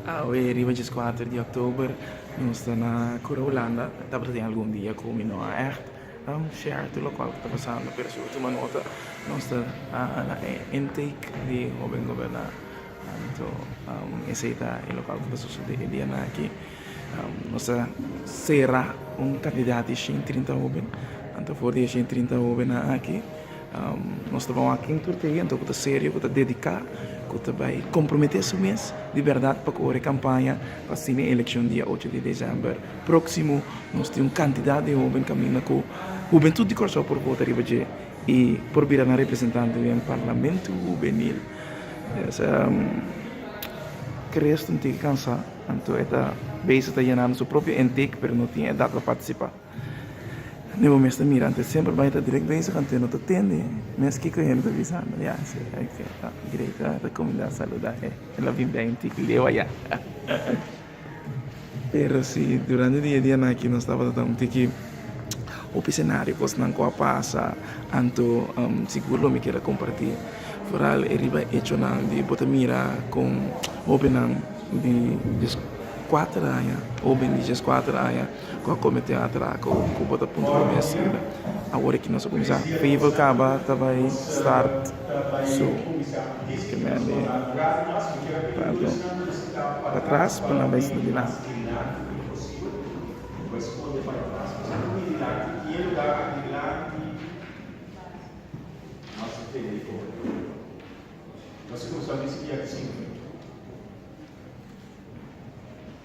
Awe riba djes kuater di oktober nos ta na Kura Hulanda tabata tin algun dia ku mi no a ègt a share tur lokual ku ta pasando pero si bo tuma nota nos ta na e intake di hoben goberná anto esei ta e lokual ku ta sosodé e dianan aki nos ta sera un kandidat di shen i trinta hoben anto for di e shen i trinta hobennan aki. Nos ta bawa aki tur te hende ku ta serio, ku ta dediká, ku ta bai komprometé su mes di bèrdat pa kore kampaña pa asina e elekshon dia ocho di desèmber próksimo nos tin un kantidat di hóben kaminda ku hubentut di Kòrsou por bota riba dje i por bira nan representantenan Parlamento Hubenil. Mesa ke resto un tiki kansá, anto e ta bese ta yenando su propio intek pero no tin edat pa partisipá. Ni bo mester mira antes semper bay ta direct bezig anto no ta tende mes kiko e hende ta bisa no ya si ok ta great ta recomenda saluda e el a bin bay un tiki leo aya pero si durante di e dia nan aki nos tabata un tiki hopi scenario cosnan cu a pasa anto sigur lo mi keda comparti foral e riba hechonan di bo ta mira con hopinan di dies cuater aña hopi di dies cuater aña. Cu a comete atraco cu bo ta punto prome asina awor e ki nos a cuminsa. People caba ta bay start su primer día tanto patras cu nan bay sinta dilanti.